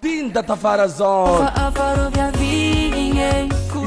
Tian'i Dadavarazan.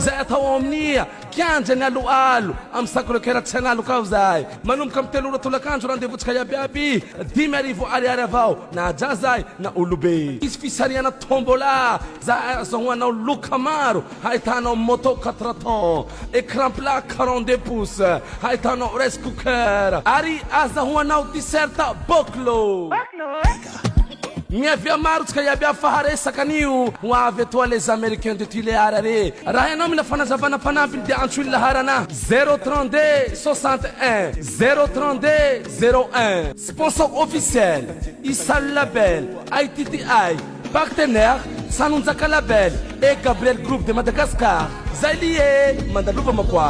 Izay atao ao amin'ny kianja ny aloalo amin'ny sacre coeur tsy analoka aho izahay. Manomboka amin'ny telo ora tolakandro rendez-vountsika iabiaby dimy arivo ariary avao na jazahy na olobe. Hisy fisarihana tombola izay azahoanao loka maro hahitanao moto quatre temps, écran plat quarante deux pouces, hahitanao rice cooker ary azahoanao t-shirt Boclo. Miavia maro tsika iaby avy fa haresaka anio ho avy etoa les americains de tulear re raha ianao mila fanazavana mpanampiny dia antsoy ny laharana zero trente deux soixante un zero trente deux zero un sponsor officiel isalo label ITTI partenaire sanonjaka label et gabriel groupe de madagascar zay lie mandalova makoa